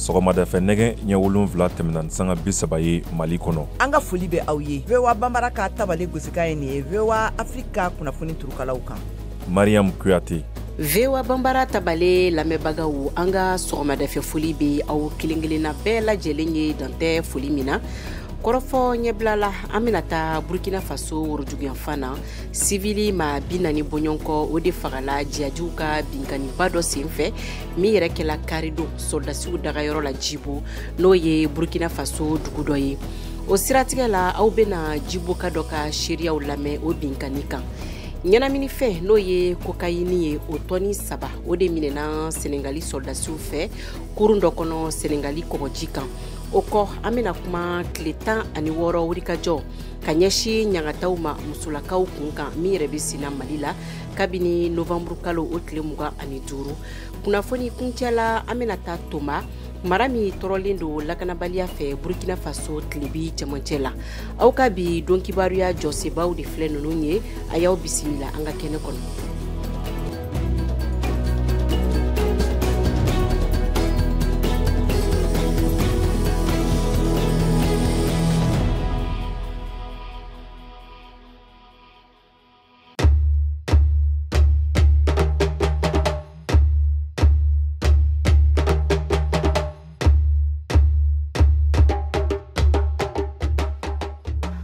sɔgɔmadafɛ nɛgɛ ɲɛ wolonfila tɛmɛna ni sanga bi saba ye mali kɔnɔ an ka foli bɛ aw ye voa banbara ka tabale gosikan ye nin ye voa afiriki ka kunnafoni turukalaw kan mariyamu kuyate voa banbara tabale lamɛnbagaw an ka sɔgɔmadafɛ foli be aw kelen kelenna bɛɛ lajɛlen ye dantɛ foli min na kɔrɔfɔ ɲɛbila la an bena taa burkina faso worojuguyanfan na sivili maa bi naani bɔɲɔgɔnkɔ o de fagala jiyajiw ka binkanniba dɔ sen fɛ min yɛrɛ kɛla karidon sɔrɔdasiw dagayɔrɔ la jibo n'o ye burkina faso dugu dɔ ye o siratigɛ la aw bena jiboka dɔ ka seeriyaw lamɛn o binkanni kan ɲɛnaminifɛn n'o ye kokayini ye o tɔni saba o de minɛna senegali sɔrɔdasiw fɛ kurun dɔ kɔnɔ senegali kɔgɔji kan o kɔ an bɛna kuma tile tan ani wɔɔrɔ wulikajɔ ka ɲɛsin ɲangataw ma musolakaw kun kan min yɛrɛ bɛ senna mali la kabini novanburu kalo o tile mugan ani duuru kunnafoni kuncɛla an bɛna taa toma mara min tɔɔrɔlen don lakanabaliya fɛ burkina faso tilebin cɛmancɛ la aw ka bi don kibaruya jɔsenbaw de filɛ ninnu ye a y'aw bisimila an ka kɛnɛ kɔnɔ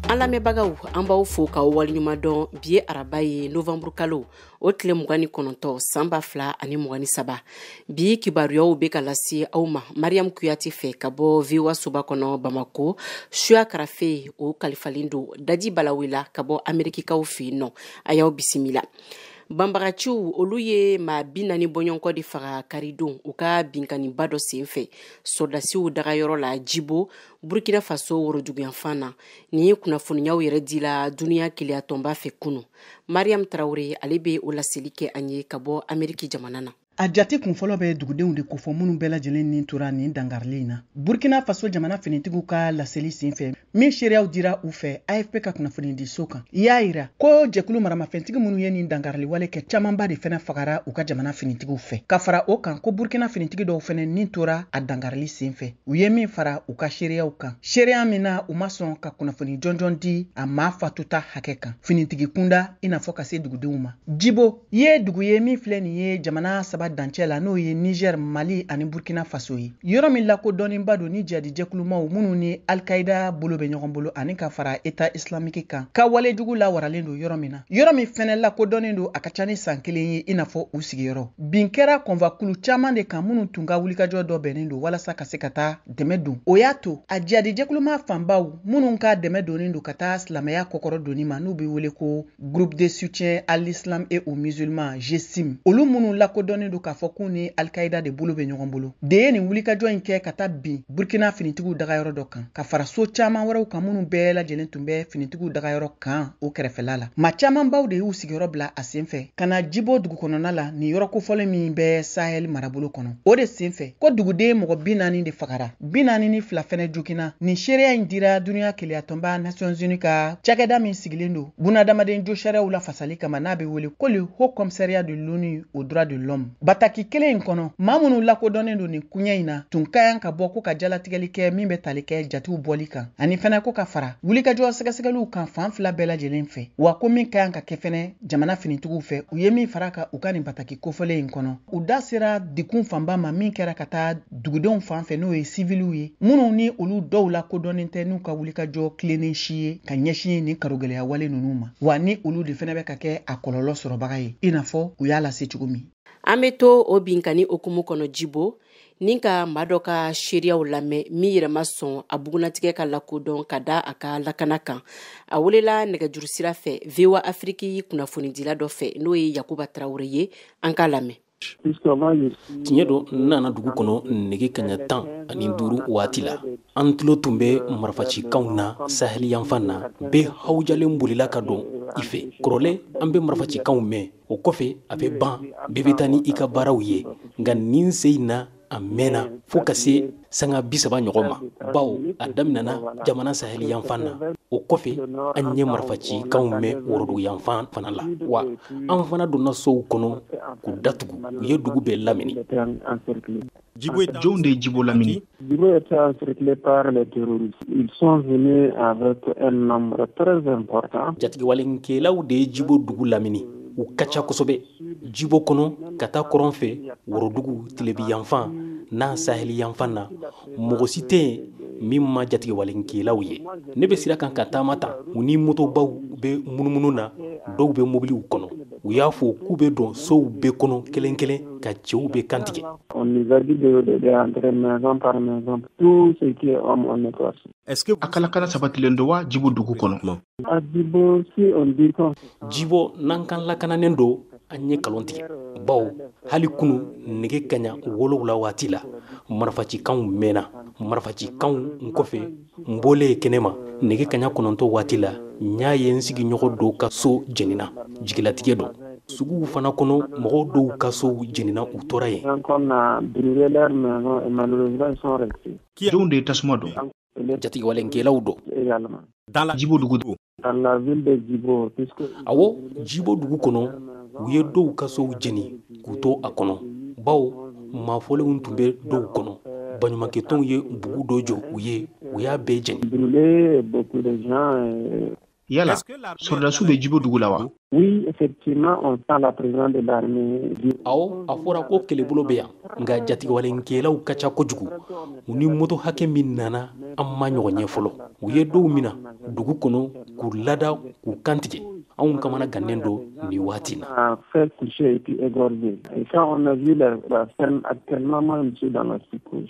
an lamɛnbagaw an b'aw fo k'aw waleɲuman dɔn bi ye araba ye novanburu kalo o tile mugan ni kɔnɔntɔn san ba fila ani mugan ni saba bi kibaruyaw be ka lase aw ma mariyamu kuyate fɛ ka bɔ voa soba kɔnɔ bamako suya karafe o kalifalen don daji balawila ka bɔ amerikikaw fɛ yen nɔ a y'aw bisimila banbagaciw olu ye maa bi naani bɔɲɔgɔnkɔ de faga karidon u ka binkanniba dɔ sen fɛ sɔrɔdasiw dagayɔrɔ la jibo burkina faso worojuguyanfan na nin kunnafoniyaw yɛrɛ dila duniɲa kelenyatɔnba fɛ kunu mariam traore ale bɛ o laseli kɛ an ye ka bɔ ameriki jamana na a jate kunfɔlɔ bɛ dugudenw de kofɔ minnu bɛɛ lajɛlen ni tora nin dangarili in na burkina faso jamana finitigiw ka laseli sen fɛ min seereyaw dira u fɛ afp ka kunnafonidiso kan i y'a yira ko jɛkulu maramafɛntigi minnu ye nin dangarili wale kɛ camanba de fɛnɛ fagara u ka jamana finitigiw fɛ ka fara o kan ko burkina finitigi dɔw fɛnɛ ni tora a dangarili sen fɛ u ye min fara u ka seereyaw kan seereya min na u ma sɔn ka kunnafoni jɔnjɔn di a maa fatuta hakɛ kan finitigi kunda i n'a fɔ ka se dugudenw ma jibo ye dugu ye min filɛ nin ye jamana saba dancɛ la n'o ye nizɛr mali ani burkina faso ye yɔrɔ min lakodɔnnenba don ni jihadi jɛkulumaw minnu ni alkaida bolo bɛ ɲɔgɔn bolo ani ka fara eta islamiki kan ka walejugu lawaralen don yɔrɔ min na yɔrɔ min fɛnɛ lakodɔnnen don a ka ca ni san kelen ye i n'a fɔ u sigiyɔrɔ bin kɛra convoi kulu caman de kan minnu tun ka wulikajɔ dɔ bɛnnen don walasa ka se ka taa dɛmɛ don o y'a to a jihadi jɛkuluma fanbaw minnu ka dɛmɛ donnen don ka taa silamɛya kɔkɔrɔdonni ma n'u bɛ wele ko groupe de soutien à l'islam et aux musulmans GSIM olu minnu lakodɔnnen don k'a fɔ k'u ni alkaida de bolo bɛ ɲɔgɔn bolo de ye nin wulikajɔ in kɛ ka taa bin burkina finitigiw dagayɔrɔ dɔ kan ka fara so caaman wɛrɛw kan minnu bɛɛ lajɛlen tun bɛ finitigiw dagayɔrɔ kan o kɛrɛfɛla la maa caamanbaw de y'u sigiyɔrɔ bila a sen fɛ ka na jibo dugu kɔnɔna la nin yɔrɔ kofɔlen min bɛ sahɛli marabolo kɔnɔ o de sen fɛ ko duguden mɔgɔ bi naani de fagara bi naani ni fila fɛnɛ jogina nin seereya in dira duniya kelenyatɔnba nations unies ka cakɛda min sigilen don bunadamaden josariyaw lafasali kama n'a bɛ wele ko le haut commissariat de l'onu aux droits de l'homme Bataki kelen in kɔnɔ maa minnu lakodɔnnen don nin koɲɛ in na tun ka yan ka bɔ ko ka jalatigɛli kɛ min bɛ tali kɛ jatiw bɔli kan ani fɛnɛ ko ka fara wulikajɔ sɛgɛsɛgɛliw kan fan fila bɛɛ lajɛlen fɛ wa ko min ka yan ka kɛ fɛnɛ jamana finitigiw fɛ u ye min fara ka u ka nin bataki kofɔlen in kɔnɔ u da sera degun fanba ma min kɛra ka taa dugudenw fan fɛ n'o ye siviliw ye minnu ni olu dɔw lakodɔnnen tɛ n'u ka wulikajɔ tilennen si ye ka ɲɛsin nin karogɛlɛya wale ninnu ma wa ni olu de fɛnɛ bɛ ka kɛ a kɔlɔlɔ sɔrɔbaga ye i n'a fɔ u y'a lase cogo min an bɛ to o binkanni hukumu kɔnɔ jibo ni ka maa dɔ ka seereyaw lamɛn min yɛrɛ ma sɔn a bugunnatigɛ ka lakodɔn ka da a ka lakana kan a welela nɛgɛjuru sira fɛ voa afiriki kunnafonidila dɔ fɛ n'o ye yakuba tarawele ye an k'a lamɛn tiɲɛ don n nana dugu kɔnɔ nɛgɛ kanɲɛ tan ani duuru waati la an tulo tun bɛ marifacikanw na sahɛli yanfan na bɛɛ hawujalen bolila ka don i fɛ kɔrɔlen an bɛ marifacikanw mɛn o kɔfɛ a bɛ ban bɛɛ bɛ taa ni i ka baaraw ye nka nin sen in na a mɛnna fo ka se sanga bi saba ɲɔgɔn ma bawo a daminɛna jamana sahel yanfan na o kɔfɛ an ye marifacikanw mɛn worodugu yanfan fana la wa an fana donna sow kɔnɔ k'u datugu u ye dugu bɛɛ lamini Jɔnw de ye Djibo lamini? Djibo était encerclé par les terroristes. Ils sont venus avec un nombre très important. Jatigiwalenkɛlaw de ye Djibo dugu lamini. U ka ca kosɛbɛ. jibo kɔnɔ ka taa kɔrɔn fɛ worodugu tilebin yanfan n'a sahel yanfan na mɔgɔ si tɛ yen min ma jatigɛwalekɛlaw ye ne bɛ sira kan ka taama ta u ni motobaw bɛ munumunu na dɔw bɛ mobiliw kɔnɔ u y'a fɔ k'u bɛ don sow bɛɛ kɔnɔ kelen kelen ka cɛw bɛɛ kantigɛ a ka lakana sabatilen don wa jibo dugu kɔnɔ jibo n'an k'a lakananen don an ye nkalon tigɛ bawo hali kunu nɛgɛ kaɲa wolowula waati la marifacikanw mɛnna marifacikanw in kɔfɛ n bɔlen kɛnɛ ma nɛgɛ kaɲa kɔnɔntɔn waati la n y'a ye n sigiɲɔgɔn dɔw ka so jenina jigilatigɛ don suguw fana kɔnɔ mɔgɔ dɔw ka sow jenina u tora yen Jɔnw de ye tasuma don jatigɛwalekɛlaw don jibo dugu don awɔ jibo dugu kɔnɔ u ye dɔw ka sow jeni k'u to a kɔnɔ bawo mafɔlenw tun bɛ dɔw kɔnɔ baɲumankɛtɔnw ye bugu dɔ jɔ u ye u y'a bɛɛ jeni Yala sɔrɔdasiw bɛ Djibo dugu la wa? Oui effectivement on sent la présence de l'armée du Awɔ, a fɔra ko kɛlɛbolo bɛ yan, nka jatigɛwalekɛlaw ka ca kojugu. U ni moto hakɛ min nana, an m'a ɲɔgɔn ye fɔlɔ. U ye dɔw minɛ dugu kɔnɔ k'u lada k'u kantigɛ. Anw kamana gannen don nin waati in na. À faire coucher et puis égorger. Et quand on a vu la scène actuellement, moi je suis dans la psychose.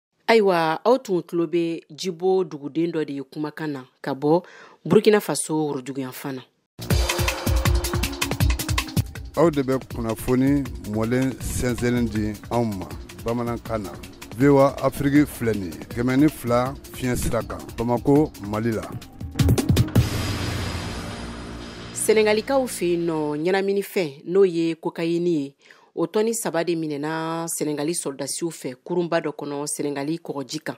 ayiwa aw tun tulo bɛ jibo duguden dɔ de ye kumakan na ka bɔ burkina faso worodugu yanfan na aw de bɛ kunnafoni mɔlen sɛnsɛnlen di anw ma bamanankan na voa afiriki filɛ nin ye kɛmɛ ni fila fiɲɛ sira kan bamako mali la senegalikaw fɛ yen nɔ ɲɛnaminifɛn n'o ye kokayini ye o tɔni saba de minɛna senegali sɔrɔdasiw fɛ kurunba dɔ kɔnɔ senegali kɔgɔji kan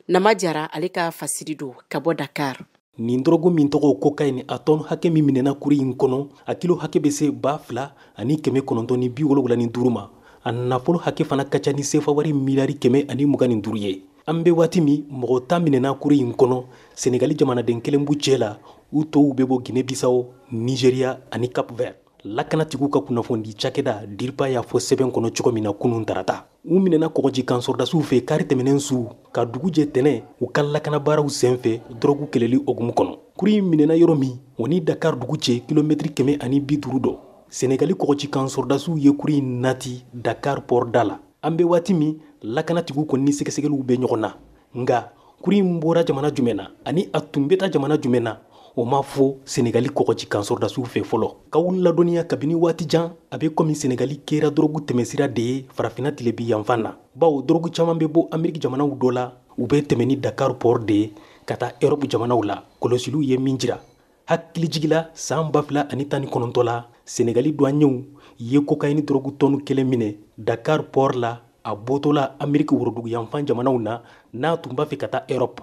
nama jara ale ka fasiri don ka bɔ dakar nin dɔrɔgu min tɔgɔ kokayini a tɔni hakɛ min minɛna kurun in kɔnɔ a kilo hakɛ bɛ se ba fila ani kɛmɛ kɔnɔntɔn ni bi wolonwula ni duuru ma a nafolo hakɛ fana ka ca ni sefawari miliyari kɛmɛ ani mugan ni duuru ye an bɛ waati min mɔgɔ tan minɛna kurun in kɔnɔ senegali jamanaden kelen b'u cɛ la u tɔw bɛ bɔ guinee bisawo nigeria ani cap vert lakanatigiw ka kunnafoni cakɛda diripa y'a fɔ sɛbɛn kɔnɔ cogo min na kunun tarata u minɛna kɔgɔji kan sɔrɔdasiw fɛ kari tɛmɛnen su ka dugu jɛ tɛnɛn u ka lakanabaaraw sen fɛ dɔrɔgu kɛlɛli hukumu kɔnɔ kurun in minɛna yɔrɔ min o ni dakar dugu cɛ kilomɛtiri kɛmɛ ani bi duuru don senegali kɔgɔji kan sɔrɔdasiw ye kurun in nati dakar pɔrɔda la an bɛ waati min lakanatigiw kɔni ni sɛgɛsɛgɛliw bɛ ɲɔgɔn na nka kurun in bɔra jamana jumɛn na ani a tun bɛ taa jamana jumɛn na o ma fɔ senegali kɔgɔji kan sɔrɔdasiw fɛ fɔlɔ k'aw ladɔnniya kabini waati jan a bɛ kɔmi senegali kɛra dɔrɔgu tɛmɛsira de ye farafina tilebi yanfan na bawo dɔrɔgu caman bɛ bɔ ameriki jamanaw dɔ la u bɛ tɛmɛ ni dakar port de ye ka taa erɔpu jamanaw la kɔlɔsiliw ye min jira hakilijigila saan ba fila ani tan ni kɔnɔntɔ la senegali duwanyɛw ye kokayini dɔrɔgu tɔnu kelen minɛ dakar port la a bɔtɔla ameriki woroduguyanfan jamanaw na n'a tun b'a fɛ ka taa erɔp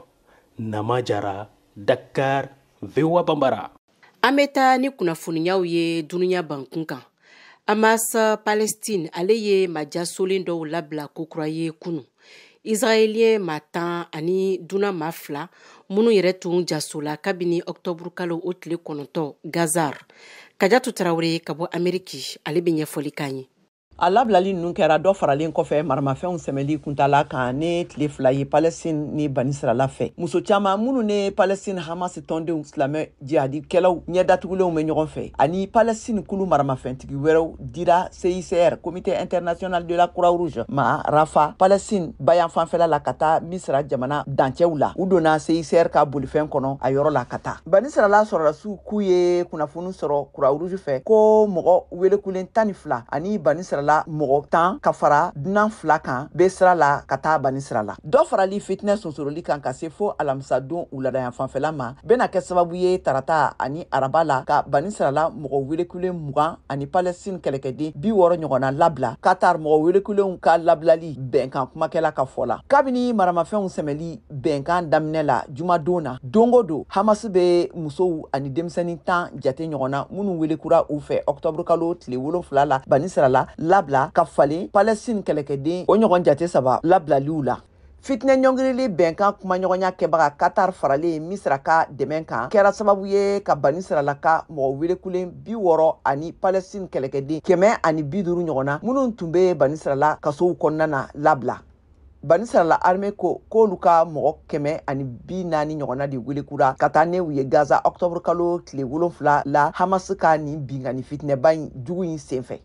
nama jara dakar voa banbara an bɛ taa ni kunnafoniyaw ye dunuya bankun kan hamas palestine ale ye majasolen dɔw labila kokura ye kunu israɛliyɛn ma tan ani dunan ma fila minnu yɛrɛ tun jasola kabini ɔktɔburu kalo o tile kɔnɔntɔ gazar kajatu tarawele ka bɔ ameriki ale bɛ ɲɛfɔli k'an ye a labilali ninnu kɛra dɔ faralen kɔfɛ maramafɛnw sɛmɛli kuntala kan ne tile fila ye palɛstin ni banisirala fɛ muso caaman minnu ne palɛstin hamas tɔndenw silamɛ jihadikɛlaw ɲɛ datugulenw bɛ ɲɔgɔn fɛ ani palestine kulu maramafɛntigi wɛrɛw dira cicr comité international de la croix rouge ma rafa palestine bayanfanfɛla la ka taa misira jamana dancɛw la u donna cicr ka bolifɛn kɔnɔ a yɔrɔ la ka taa bani sirala sɔrɔdasiw k'u ye kunnafoni sɔrɔ croix rouge fɛ ko mɔgɔ welekulen tan ni fila ani bani sirala mɔgɔ tan ka fara dunan fila kan bɛ sira la ka taa bani sirala dɔ farali fitinɛ sonsoroli kan ka se fo alamisadon wuladayanfanfɛla ma bɛna kɛ sababu ye tarata ani araba la ka bani sirala mɔgɔ welekulen mugan ani palɛstin kɛlɛkɛden bi wɔɔrɔ ɲɔgɔnna labila katar mɔgɔ welekulenw ka labilali bɛnkan kumakɛla ka fɔ la kabini maramafɛnw sɛmɛli bɛnkan daminɛ la jumadon na don go don hamasi bɛ musow ani denmisɛnnin tan jate ɲɔgɔnna minnu welekura u fɛ ɔktɔburu kalo tile wolonfila la bani sirala labila ka falen palɛstin kɛlɛkɛden o ɲɔgɔn jate saba labilaliw la fitinɛ ɲɔngirili bɛnkan kumaɲɔgɔnya kɛbaga katar faralen misira ka dɛmɛ kan kɛra sababu ye ka bani sirala ka mɔgɔ welekulen bi wɔɔrɔ ani palɛstin kɛlɛkɛden kɛmɛ ani bi duuru ɲɔgɔnna minnu tun bɛ bani sirala kasow kɔnɔna na labila bani sirala arme ko k'olu ka mɔgɔ kɛmɛ ani bi naani ɲɔgɔnna de welekura ka taa ne u ye gaza ɔktɔburukalo tile wolonfila la hamas ka nin binkanni fitinɛba in jugu in senfɛ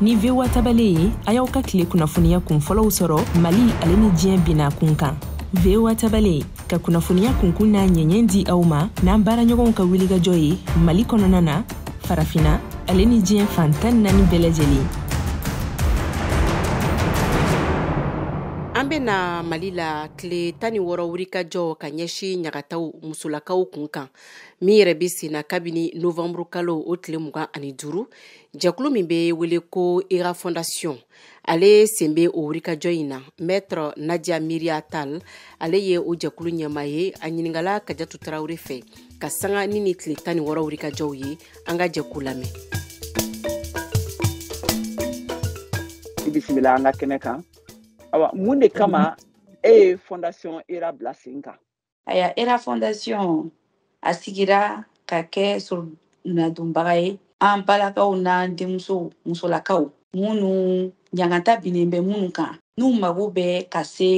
ni voa tabale ye a y'aw ka tile kunnafoniya kun fɔlɔw sɔrɔ mali ale ni diɲɛ bina kun kan voa tabale ka kunnafoniya kunkun n'a ɲɛɲɛ di aw ma n'an baaraɲɔgɔnw ka wulikajɔ ye mali kɔnɔna na farafina ale ni diɲɛ fan tan naani bɛɛ lajɛlen an bɛ na mali la tile tan ni wɔɔrɔ wulikajɔ ka ɲɛsin ɲagataw musolakaw kun kan min yɛrɛ bɛ senna kabini novanburu kalo o tile mugan ani duuru jɛkulu min bɛ wele ko era fondation ale sen bɛ o wulikajɔ in na maître nadia miria tal ale ye o jɛkulu ɲɛmaa ye a ɲininkala kajatu tarawele fɛ ka sanga ni nin tile tan ni wɔɔrɔ wulikajɔw ye an ka jɛ k'u lamɛn bisimila an ka kɛnɛ kan awa mun de kama e ye fondation era bila sen kan Aya era fondation a sigira ka kɛ sorunadonbaga ye an balakaw n'an denmuso musolakaw minnu ɲangata binnen bɛ minnu kan n'u mago bɛ ka se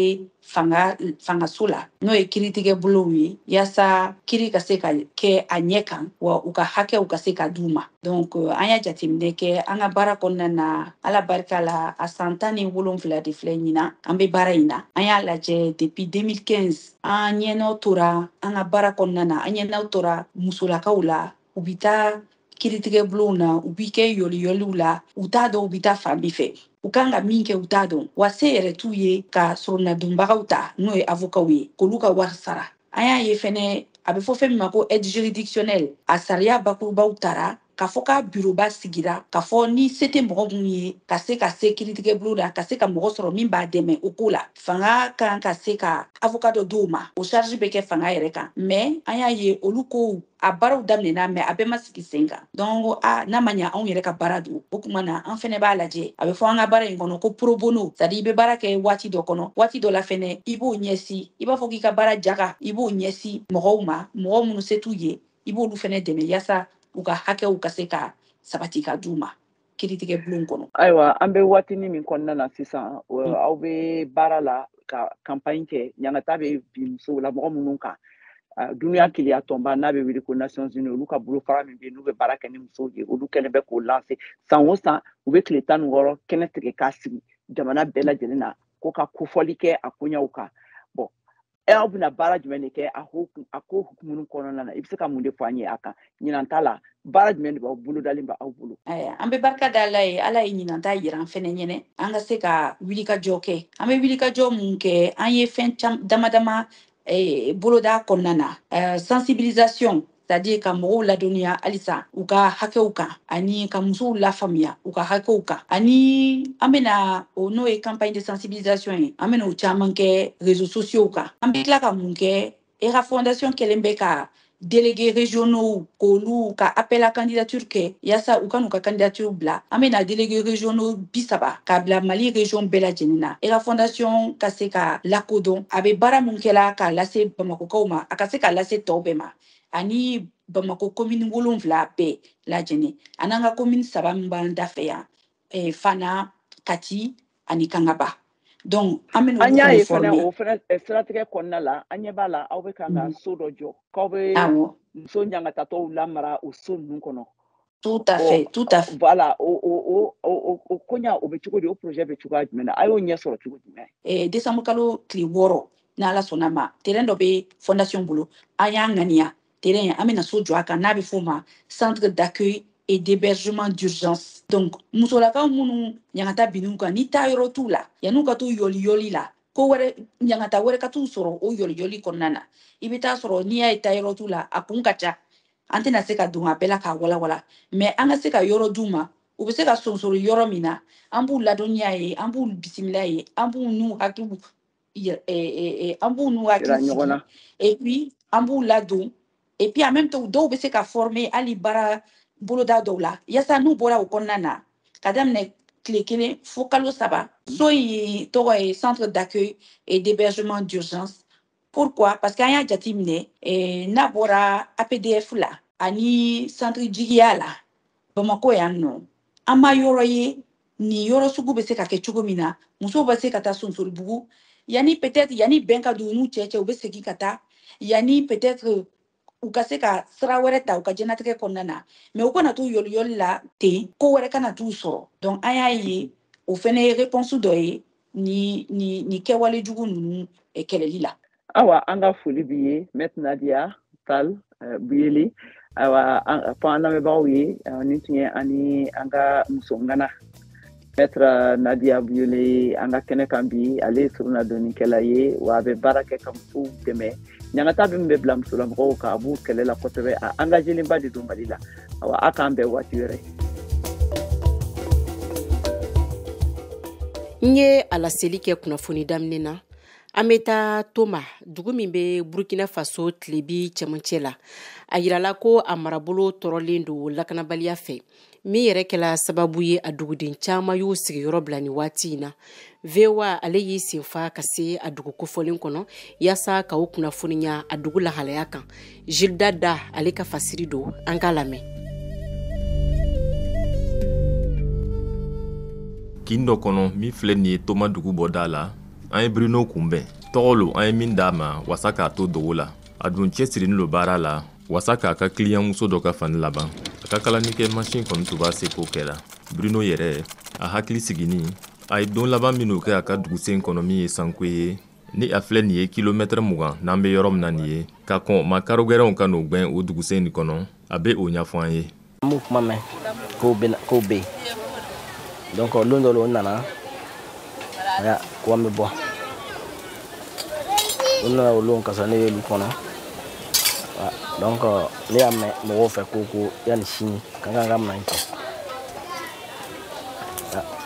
fanga fangaso la n'o ye kiritigɛ bulonw ye yaasa kiri ka se ka kɛ a ɲɛ kan wa u ka hakɛw ka se ka d'u ma donc euh, an y'a jateminɛ kɛ an ka baara kɔnɔna na ala barika la a san tan ni wolonfila de filɛ ɲinan an be baara in na an y'a lajɛ depuis 2015 an ɲɛnɔ tora an ka baara kɔnɔna na an ɲɛnɔ tora musolakaw la u be taa kiritigɛ bulonw na u bɛ kɛ yɔliyɔliw la u t'a dɔn u bɛ taa fan min fɛ u kan ka min kɛ u t'a dɔn wa se yɛrɛ t'u ye ka soronadonbagaw ta n'o ye avokaw ye k'olu ka wari sara an y'a ye fɛnɛ a bɛ fɔ fɛn min ma ko aide juridictionnelle a sariya bakurubaw tara k'a fɔ k'a biroba sigira k'a fɔ ni se tɛ mɔgɔ minnu ye ka se ka se kiritigɛbulon la ka se ka mɔgɔ sɔrɔ min b'a dɛmɛ o ko la fanga kan ka se ka avoka dɔ d'o ma o charge bɛ kɛ fanga yɛrɛ kan mais an y'a ye olu kow a baaraw daminɛna mais a bɛɛ ma sigi sen kan donc a n'a ma ɲa anw yɛrɛ ka baara don o kuma na an fɛnɛ b'a lajɛ a bɛ fɔ an ka baara in kɔnɔ ko pro bono c'est-à-dire i bɛ baara kɛ waati dɔ kɔnɔ waati dɔ la fɛnɛ i b'o ɲɛsi i b'a fɔ k'i ka baara jaga i b'o ɲɛsi mɔgɔw ma mɔgɔ minnu se t'u ye i b'olu fɛnɛ dɛmɛ yaasa u ka hakɛw ka se ka sabati ka d'u ma kiritigɛ bulon kɔnɔ ayiwa an bɛ waatini min kɔnɔna na sisan mm. aw bɛ baara la ka kanpaɲi kɛ ɲangata bɛ bin musolamɔgɔ minnu kan dunuya mm. kelenya tɔnba n'a bɛ wele ko nations unies olu ka bolofara min bɛ n'u bɛ baara kɛ ni musow ye olu kɛlen bɛ k'o lanse san o san u bɛ tile tan ni wɔɔrɔ kɛnɛ tigɛ k'a sigi jamana bɛɛ lajɛlen na ko ka kofɔli kɛ a koɲaw kan e aw bɛna baara jumɛn de kɛ a ko a ko hukumu kɔnɔna na i bɛ se ka mun de fɔ an ye a kan ɲinan ta la baara jumɛn de b'aw bolodalen bɛ aw bolo an bɛ barika da ala ye ala ye ɲinan ta yira an fɛnɛ ɲɛnɛ an ka se ka wulikajɔ kɛ an bɛ wulikajɔ mun kɛ an ye fɛn dama dama boloda kɔnɔna na sensibilisation c'est-à-dire ka mɔgɔw ladɔnniya halisa u ka hakɛw kan ani ka musow lafaamuya u ka hakɛw kan ani an bena o n'o ye campagne de sensibilisation ye an bena o caaman kɛ réseaux sociaux kan an be tila ka mun kɛ era fondation kɛlen bɛ ka délégués régionaux k'olu ka appel à candidature kɛ yaasa u ka n'u ka candidature bila an bena délégués régionaux bi saba k'a bila mali région bɛɛ lajɛlen na hera fondation ka se ka lakodɔn a bɛ baara min kɛla k'a lase bamakokaw ma a ka se ka lase tɔw bɛɛ ma ani bamako komini wolonfila bɛɛ lajɛlen an'an ka komini saba min b'an da fɛ yan eh, fana kati ani kangaba donc an bɛ an y'a ye fana o fana eh, siratigɛ kɔnɔna la an ɲɛ b'a la aw bɛ kan ka mm. so dɔ jɔ k'aw bɛ muso ɲangatatɔw lamara o so ninnu kɔnɔ tout à fait tout à fait voilà o o o o koɲa o bɛ cogo di o projet bɛ cogoya jumɛn na a y'o ɲɛ sɔrɔ cogo jumɛn eh, décembre kalo tile wɔɔrɔ n'ala sɔnna ma terrain dɔ bɛ fondation bolo an y'a ŋaniya terrain an bɛna so jɔ a kan n'a bɛ f'o ma centre d'accueil et d'hébergement d'urgence donc musolakaw minnu ɲangata binn'u kan ni taa yɔrɔ t'u la yan'u ka to yɔliyɔli la ko wɛrɛ ɲangata wɛrɛ ka t'u sɔrɔ o yɔliyɔli kɔnɔna na i bɛ taa sɔrɔ n'i y'a ye taa yɔrɔ t'u la a kun ka ca an tɛna se ka don a bɛɛ la k'a walawala mais an ka se ka yɔrɔ d'u ma u bɛ se ka sonsori yɔrɔ min na an b'u ladonniya yen an b'u bisimila yen an b'u n'u hakiliw an b'u n'u hakili sigi et puis an b'u ladon et puis en même temps dɔw bɛ se ka former hali baara boloda dɔw la yasa n'u bɔra o kɔnɔna na ka daminɛ tile kelen fo kalo saba so in tɔgɔ ye centre d'accueil et d'hébergement d'urgence pourquoi parce que an y'a jateminɛ eh, n'a bɔra apdf la ani centre jigiya la bamakɔ yan nɔ an ma yɔrɔ ye nin yɔrɔ sugu bɛ se ka kɛ cogo min na musow bɛ se ka taa sonsoribugu yanni peut-être yanni bɛn ka don u n'u cɛ cɛ u bɛ segin ka taa yanni peut-être u ka se ka sira wɛrɛ ta u ka jɛnatigɛ kɔnɔna na mais u kana to yɔliyɔli la ten ko wɛrɛ kana t'u sɔrɔ donc an y'a ye o fɛnɛ ye réponse dɔ ye ni ni ni kɛwale jugu ninnu eh, kɛlɛli la awa an ka foli b'i ye maître nadia tall eh, biouélé awa fɔ an lamɛnbagaw ye eh, nin tun ye an ni an ka muso ŋana Maître Nadia Biouélé ye an ka kɛnɛ kan bi ale ye soronadonnikɛla ye wa a bɛ baara kɛ ka musow dɛmɛ ɲangata min bɛ bila musolamɔgɔw kan a b'o kɛlɛ la kosɛbɛ a engagélenba de don Mali la awa a k'an bɛn waati wɛrɛ n ye a laseli kɛ kunnafoni daminɛ na an bɛ taa toma dugu min bɛ burkina faso tilebin cɛmancɛ la a yirala ko a marabolo tɔɔrɔlen don lakanabaliya fɛ min yɛrɛ kɛla sababu ye a duguden caman y'u sigiyɔrɔ bila ni waati in na voa ale y'i senfa ka se a dugu kofɔlen kɔnɔ yaasa ka aw kunnafoniya a dugu lahalaya kan gildas da ale ka fasiri don an k'a lamɛn kin dɔ kɔnɔ min filɛ nin ye toma dugu bɔda la an ye bruno kunbɛn tɔgɔ lo an ye min d'a ma wasa k'a to dogo la a dun cɛsirinin lo baara la wasa k'a ka kiliyanmuso dɔ ka fani laban a ka kalanikɛ masin kɔni tun b'a seko kɛra bruno yɛrɛ a hakili sigini a ye don laban minw kɛ a ka dugusen kɔnɔ min ye sankwe ye ni a filɛ nin ye kilomɛtɛrɛ mugan n'an be yɔrɔ min na nin ye ka kɔn makarogɛrɛnw ka n'o gwɛn o dugusen nin kɔnɔ a be o ɲafɔ an ye an b'u kuma mɛn k'o bɛ k'o bɛ yen donc lon dɔ la o nana aya ko an bɛ bɔ u nana o lon ka sɔrɔ ne y'olu kɔnɔ donc ne y'a mɛn mɔgɔw fɛ ko ko yanni sini k'an k'an ka minɛn cɛ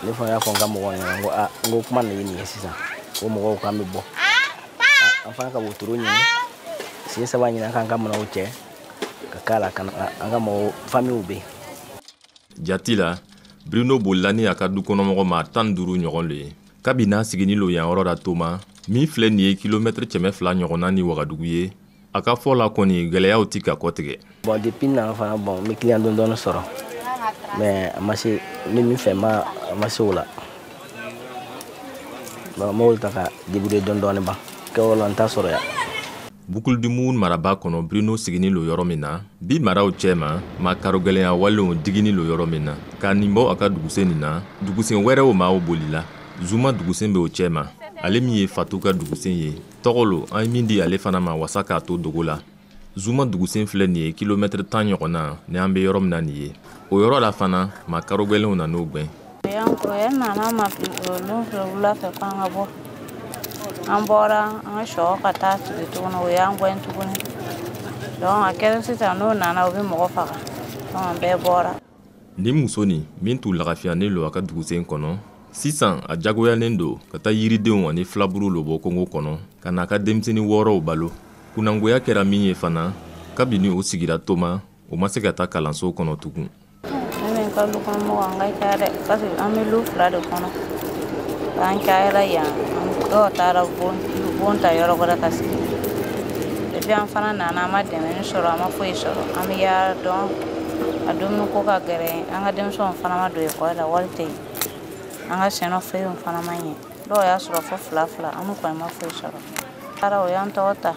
ne fana y'a fɔ n ka mɔgɔw ɲɛna n ko a n ko kuma nin ye nin ye sisan ko mɔgɔw k'an bɛ bɔ an fana ka wotoro ɲini sen saba ɲini an k'an ka minɛnw cɛ ka k'a la ka na an ka mɔgɔ famiw bɛ yen jati la bruno bolila ni a ka dukɔnɔmɔgɔ maa tan duuru ɲɔgɔn le ye kabi n'a sigini lo yan yɔrɔ la toma min filɛ nin ye kilomɛtiri kɛmɛ fila ɲɔgɔnna ni wagadugu ye a ka fɔ la kɔni gwɛlɛyaw ti ka kɔtigɛ bɔn depi na fana bɔn n bɛ kiliyan dɔɔni dɔɔni sɔrɔ mɛ a ma se n bɛ min fɛ ma a ma se o la Bon n b'olu ta ka débrouiller dɔɔni dɔɔni ban kɛwale la n t'a sɔrɔ yan. Boucle du Mouhoun maraba kɔnɔ Bruno siginin lo yɔrɔ min na, bi maraw cɛma, makarogɛlɛnya walenw diginin lo yɔrɔ min na. K'a nin bɔ a ka dugusen nin na, dugusen wɛrɛw maaw bolila. Zuma dugusen bɛ o cɛma, ale min ye Fatu ka dugusen ye. Tɔgɔ lo, an ye min di ale fana ma wasa k'a to dogo la. zuma dugusen filɛ nin ye kilomɛtiri tan ɲɔgɔn na ni an bɛ yɔrɔ min na nin ye o yɔrɔ la fana makarogɛlɛnw nan'o gwɛn yankoya nana ma don fɛ wula fɛ k'an ka bɔ an bɔra an ka so ka taa sigi tuguni o y'an gwɛn tuguni donc a kɛra sisan n'o nana o bɛ mɔgɔ faga donc an bɛɛ bɔra nin muso nin min tun lagafiyanen lo a ka dugusen kɔnɔ sisan a jagoyalen don ka taa yiridenw ani filaburu lo bɔ kongo kɔnɔ ka n'a ka denmisɛnnin wɔɔrɔw balo kunnagoya kɛra min ye fana kabini o sigira toma o ma se ka taa kalanso kɔnɔ tugun ne ka dukɔnɔmɔgɔ an ka ca dɛ parce que an bɛ lu fila de kɔnɔ an cayala yan dɔw taara bon ta yɔrɔ wɛrɛ ka sigi depi an fana nana an ma dɛmɛni sɔrɔ an ma foyi sɔrɔ an bɛ yaara dɔn a dumuni ko ka gɛrɛ an ka denmisɛnw fana ma don ekɔli la wari tɛ yen an ka sɛnɛ feerew fana ma ɲɛ dɔw y'a sɔrɔ fo fila fila an kɔni ma foyi sɔrɔ taara o y'an tɔgɔ ta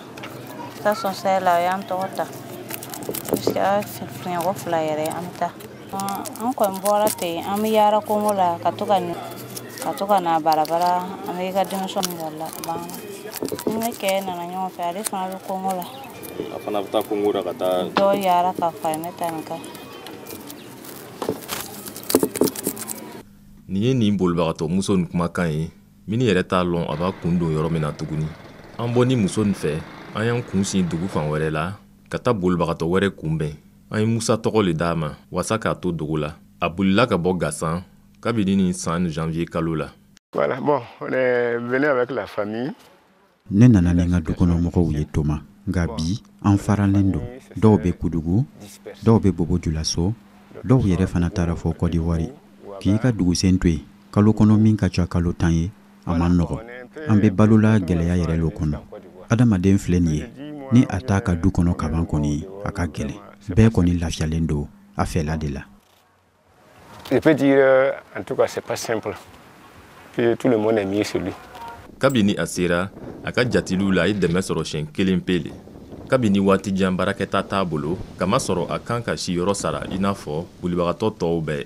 action sociale la o y'an tɔgɔ ta jusqu'à siɲɛko fila yɛrɛ an bɛ taa an kɔni bɔra ten an bɛ yaara kongo la ka to ka ka to ka na barabara an bɛ i ka denmisɛnw la banna ne kɛ nana ɲɔgɔn fɛ ale fana bɛ kongo la a fana bɛ taa kungo la ka taa dɔ yaara ka fara ne ta nin kan nin ye nin bolibagatɔ muso nin kumakan ye min yɛrɛ t'a lɔn a b'a kun don yɔrɔ min na tuguni an bɔnin muso nin fɛ an y'an kun sin dugu fan wɛrɛ la ka taa bolibagatɔ wɛrɛ kunbɛn an ye musa tɔgɔ le d'a ma waasa k'a to dogo la a bolila ka bɔ gasan kabini nin san janvier kalo la Voilà, bon, on est venu avec la famille. ne nana ni n ka dukɔnɔmɔgɔw ye toma nka bi an faralen don dɔw bɛ kudugu dɔw bɛ bobo julaso dɔw yɛrɛ fana taara fɔ kɔdiwari k'i ka dugusen to yen kalo kɔnɔ min ka ca kalo tan ye a man nɔgɔ an bɛ balola gɛlɛya yɛrɛ lo kɔnɔ adamaden filɛ nin ye ni a t'a ka du kɔnɔ kaban kɔni a ka gɛlɛn bɛɛ kɔni lafiyalen don a fɛla de la Je peux dire, euh, en tout cas, c'est pas simple. Que tout le monde est mieux chez lui. kabini a sera a ka jatigiw la a ye dɛmɛ sɔrɔ siɲɛ kelen pe le kabini waati jan baarakɛta t'a bolo k'a masɔrɔ a kan ka siyɔrɔ sara i n'a fɔ bolibagatɔ tɔw bɛɛ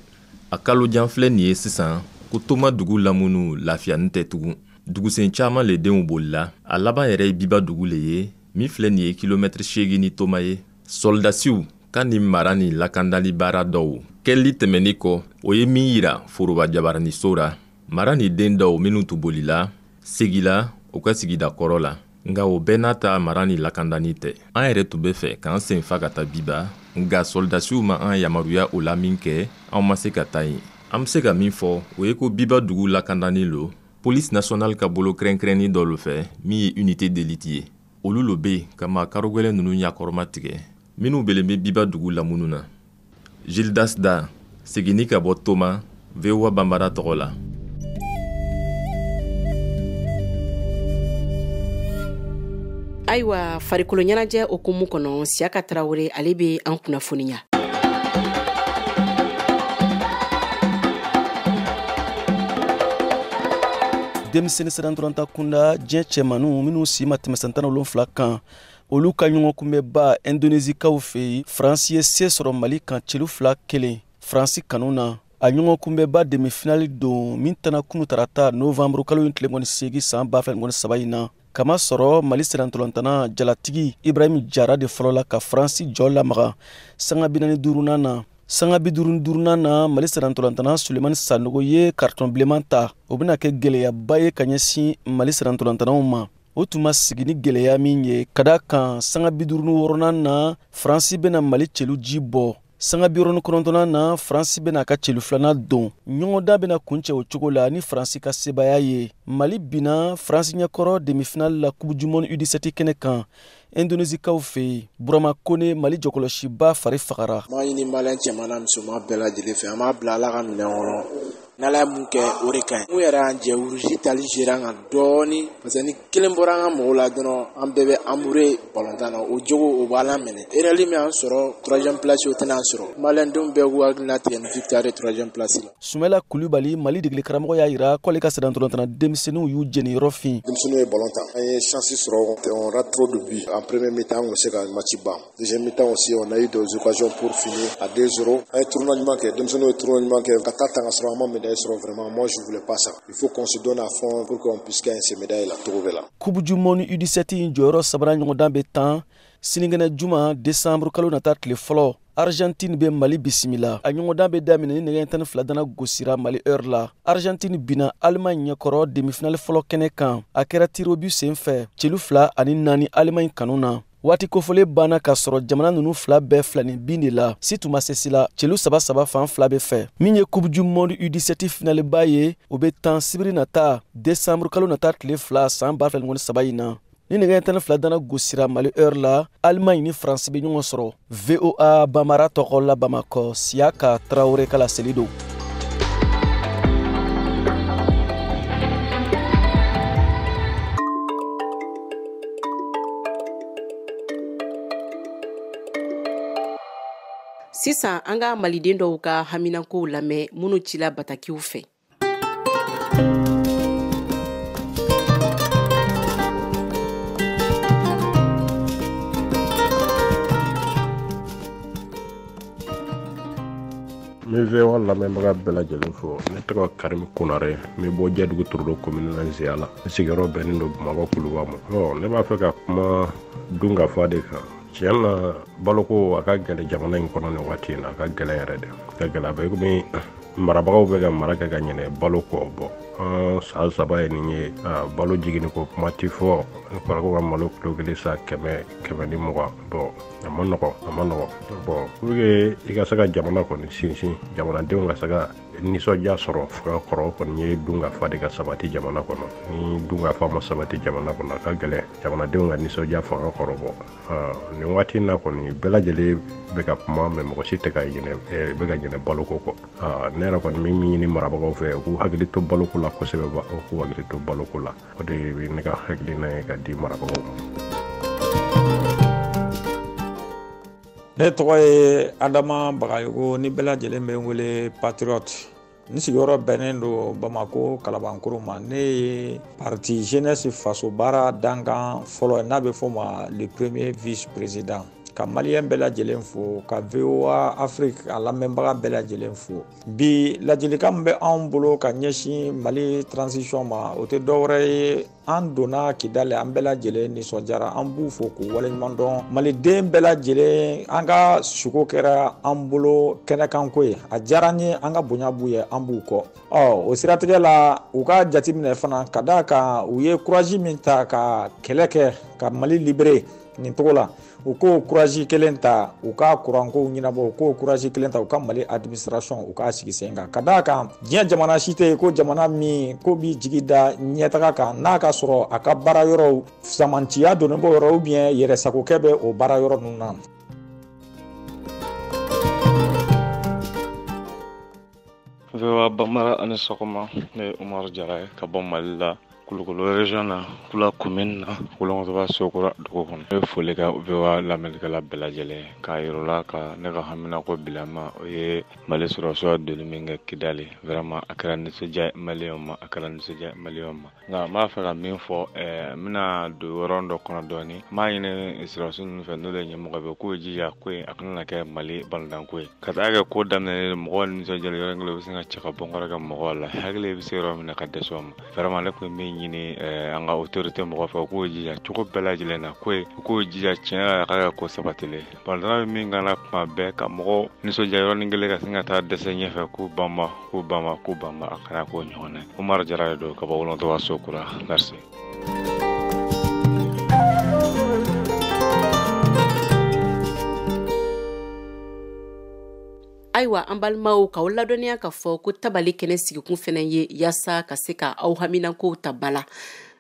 a kalo jan filɛ nin ye sisan ko toma dugu lamunu lafiyanin tɛ tugun dugusen caaman le denw bolila a laban yɛrɛ ye biba dugu le ye min filɛ nin ye kilomɛtiri seegin ni toma ye sɔlidasiw ka nin mara nin lakandali baara dɔw kɛli tɛmɛnni kɔ o ye min yira foroba jabaraniso ra mara nin den dɔw minnu tun bolila segila u ka sigida kɔrɔ la nka o bɛɛ n'a ta mara nin lakandanin tɛ an yɛrɛ tun bɛ fɛ k'an sen fa ka taa biba nka sɔlidasiw ma an yamaruya o la minkɛ an ma se ka taa yen an be se ka min fɔ o ye ko biba dugu lakandanin lo polisi nasiyonali ka bolo kɛrɛnkɛrɛnnin dɔ lo fɛ min ye unité d'élite ye olu lo be ka maa karogwɛlɛ nunu ɲakɔrɔma tigɛ minnu belen bɛ biba dugu lamunu na gildas da seginni ka bɔ toma voa banbara tɔgɔ la ayiwa farikolo ɲɛnajɛ hukumu kɔnɔ siyaka tarawele ale bɛ an kunnafoniya denmisɛnnin sennantolatan kunda diɲɛ cɛmaninw minnu si ma tɛmɛ san tan wolonfila kan olu ka ɲɔgɔnkunbɛnba indonezikaw fɛ yen faransi ye se sɔrɔ mali kan celu fila kelen faransi kanu na a ɲɔgɔnkunbɛnba demifinali don min tanna kunu tarata novanburu kalo in tile mugan ni seegin saan ba fila mugan ni saba in na k'a masɔrɔ mali sennantolatanna jalatigi ibrahim jara de fɔlɔ la ka faransi jɔ lamaga sanga binani duurunan na sanga biduuru ni duurunan na mali sennantolatanna sulemani sanogo ye karitɔn bilenman ta o bena kɛ gwɛlɛyaba ye ka ɲɛsin mali sennantolatannaw ma o tun ma sigi ni gɛlɛya min ye ka d'a kan sanga biduuru ni wɔɔrɔnan na faransi bɛna mali celu ji bɔ sanga biwɔɔrɔ ni kɔnɔntɔnnan na faransi bɛna a ka celu filanan don ɲɔgɔndan bɛna kuncɛ o cogo la ni faransi ka sebaaya ye mali binna faransi ɲɛkɔrɔ demifinali la coupe du monde U dix-sept kɛnɛ kan indonezikaw fɛ yen burama kone mali jɔkɔlɔsiba fari fagara n b'a ɲini maliyɛn cɛman n'a musoman bɛɛ lajɛlen fɛ an b'a bila ala ka minɛn kɔnɔ n'ala ye mun kɛ o de ka ɲi mun yɛrɛ y'an jɛ rouge tali zera an kan dɔɔni parce que ni kelen bɔra an ka mɔgɔw la dɔrɔn an bɛɛ bɛ anbure balontan na o jogo o b'a la minɛ erreur min y'an sɔrɔ troisième place o tɛna an sɔrɔ maliyɛndenw bɛɛ k'u hakili latigɛ ni victoire ye troisième place la sumela kulubali mali degeli karamɔgɔ y'a yira k'ale ka cɛden ntolatanna denmisɛnninw y'u jeniyɔrɔ fin denmisɛnninw ye balon tan an ye chansi sɔrɔ on rate trop de buts en premier mi-temps an kun bɛ se ka match ban deuxième mi-temps aussi on a eu des occasions pour finir à 2 0 an ye tournoi ɲuman kɛ denmisɛnninw ye tournoi ɲuman kɛ ka taa tan k'a sɔrɔ an ma médaille sɔrɔ vraiment moi je voulais pas ça il faut qu'on se donne à fond pour qu'on puisse gagner ces médailles là cogo bɛɛ la coupe du monde u17 jɔyɔrɔ sabanan ɲɔgɔndan bɛ tan sininkɛnɛ juma décembre kalo nata tile fɔlɔ Argentine bɛ Mali bisimila a ɲɔgɔndan bɛ daminɛ ni nɛgɛ tan ni fila dana gosira Mali heure la Argentine binna Allemagne ɲɛkɔrɔ demifinali fɔlɔ kɛnɛ kan a kɛra tirobu sen fɛ celu fila ani naani Allemagne kanu na waati kofɔlen banna k'a sɔrɔ jamana ninnu fila bɛɛ filanin bin de la si tun ma se si la celu saba saba fan fila bɛɛ fɛ min ye coupe du monde u17 finaleba ye o bɛ tan sibiri nata desanburukalo nata tile fila san 2023 in na ni nɛgɛ tan ni fila dana gosira mali heure la alimaɲi ni faransi bɛ ɲɔgɔn sɔrɔ voa bambara tɔgɔ la bamakɔ siyaka tarawele ka laseli don sisan an ka maliden dɔw ka haminankow lamɛn minnu cila batakiw fɛ n bɛ voa lamɛnbaga bɛɛ lajɛlen fo ne tɔgɔ karimi konare n bɛ bɔ jɛdugu torodo komini la nzeyala n sigiyɔrɔ bɛnnen don bamakɔ kuluba ma ɔ ne b'a fɛ ka kuma dunkafa de kan tiɲɛ na baloko a ka gɛlɛ jamana in kɔnɔ nin waati in na a ka gɛlɛ yɛrɛ de ka gɛlɛ a bɛ komi marabagaw bɛ ka mara kɛ ka ɲinɛ balo kɔ bɔ an san saba ye nin ye balo jiginni ko kuma tɛ fɔ n'a fɔra ko ka malo kilo kelen san kɛmɛ kɛmɛ ni mugan bɔn a ma nɔgɔ a ma nɔgɔ bɔn pour que i ka se ka jamana kɔni sinsin jamanadenw ka se ka nisɔndiya sɔrɔ fanga kɔrɔ kɔni ye dunkafa de ka sabati jamana kɔnɔ ni dunkafa ma sabati jamana kɔnɔ a ka gɛlɛn jamanadenw ka nisɔndiya fanga kɔrɔ bɔ nin waati na kɔni bɛɛ lajɛlen bɛ ka kuma mɛ mɔgɔ si tɛ ka bɛ ka ɲinɛ baloko kɔ ne yɛrɛ kɔni bɛ min ɲini marabagaw fɛ u k'u hakili to baloko la kosɛbɛ u k'u hakili to baloko la o de bɛ ne ka hakilina ye ka di marabagaw ma ne tɔgɔ ye adama bagayogo ni bɛɛ lajɛlen bɛ n wele patriote n sigiyɔrɔ bɛnnen don bamako kalabankoro ma ne ye parti jeunesse faso baara dankan fɔlɔ n'a bɛ fɔ ma le premier vice président ka maliyɛn bɛɛ lajɛlen fo ka voa afrique a lamɛnbaga bɛɛ lajɛlen fo bi ladilikan min bɛ anw bolo ka ɲɛsin mali transition ma o tɛ dɔwɛrɛ ye an donna kidali an bɛɛ lajɛlen nisɔndiyara an b'u fo k'u waleɲuman dɔn maliden bɛɛ lajɛlen an ka suko kɛra an bolo kɛnɛkanko ye a diyara n ye an ka bonya b'u ye an b'u kɔ ɔ o siratigɛ la u ka jateminɛ fana ka d'a kan u ye kurazi min ta ka kɛlɛ kɛ ka mali libere nin cogo la u k'o kurazi kelen ta u ka kurankow ɲɛnabɔ u k'o kurazi kelen ta u ka mali administration u k'a sigi sen kan ka d'a kan diɲɛ jamana si tɛ ko jamana min ko b'i jigi da ɲɛtaga kan n'a ka sɔrɔ a ka baara yɔrɔw samantiya donnen b'o yɔrɔ ubiyɛn yɛrɛsagokɛ bɛ o baara yɔrɔ ninnu na VOA Bambara aw ni sɔgɔma ne ye Umaru Jara ye ka bɔ Mali la Kulukoro région na Kula commune na Wolonkɔtɔba Sokura dugu kɔnɔ ne bɛ foli kɛ VOA lamɛnnikɛla bɛɛ lajɛlen ye k'a yira u la ka ne ka haminako bilama o ye Mali sɔrɔdasiw donni min kɛ Kidali vraiment a kɛra nisɔndiya ye maliyɛnw ma a kɛra nisɔndiya ye maliyɛnw ma nka n b'a fɛ ka min fɔ ɛɛ n bɛna don yɔrɔ dɔ kɔnɔ dɔɔni n b'a ɲini sɔrɔdasi ninnu fɛ n'o de ye ɲɛmɔgɔ bɛɛ u k'u jija koyi a kana na kɛ mali balontanko ye ka taa kɛ ko daminɛlen don mɔgɔw nisɔndiyalen yɔrɔ kelen u bɛ sin ka cɛ ka bɔ kɔrɔ kɛ mɔgɔw la hakili bɛ se yɔrɔ min na ka dɛsɛ o ma vraiment ne tun bɛ min ɲini ɛɛ an ka autorité mɔgɔ fɛ u k'u jija cogo bɛɛ lajɛlen na koyi u k'u jija tiɲɛ yɛrɛ la a ka kɛ ko sabatilen ye Balontanna bɛ min k'an na kuma bɛɛ ka mɔgɔw nisɔndiya yɔrɔnin kelen ka sin ka taa dɛsɛ ɲɛfɛ k'u banba k'u banba k'u banba a kana k'o ɲɔgɔn na ye Umaru Jara de don ka bɔ Wolonkɔtɔba Sokura merci ayiwa an balimaw k'aw ladɔnniya k'a fɔ ko tabale kɛnɛ sigikun fɛnɛ ye yaasa ka se ka aw haminankow ta ba la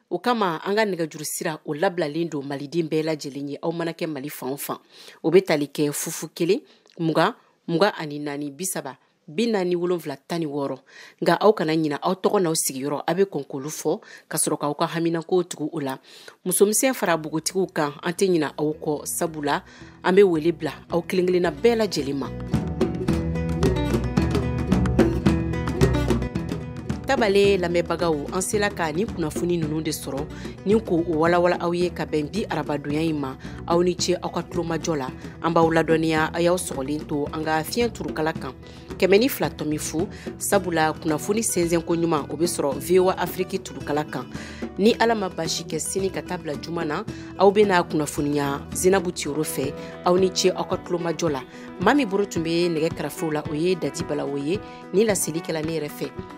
o kama an ka nɛgɛjuru sira o labilalen don maliden bɛɛ lajɛlen ye aw mana kɛ mali fan o fan o bɛ tali kɛ fu fu kelen mugan mugan ani naani bisaba bi naani wolonfila tan ni wɔɔrɔ nka aw kana ɲina aw tɔgɔ n'aw sigiyɔrɔ aw bɛ kɔn k'olu fɔ ka sɔrɔ k'aw ka haminankow tugu o la musomisɛn fara bogotigiw kan an tɛ ɲina aw kɔ sabu la an bɛ wele bila aw kelen kelenna bɛɛ lajɛlen ma tabale lamɛnbagaw an sela ka nin kunnafoni ninnu de sɔrɔ ni k'o walawala aw ye ka bɛn bi arabadonya in ma aw ni ce aw ka tulomajɔ la an b'aw ladɔnniya a y'aw sɔgɔlen to an ka fiɲɛ turukala kan kɛmɛ ni fila tɔmi fu sabula kunnafoni sɛnsɛnko ɲuman o be sɔrɔ voa afiriki turukala kan ni ala ma baasi kɛ sini ka taa bila juma na aw bena kunnafoniya zinabu tiyoro fɛ aw ni ce aw ka tulomajɔ la maa min boro tun be nɛgɛ karafew la o ye dati balawo ye ni laseli kɛla ne yɛrɛ fɛ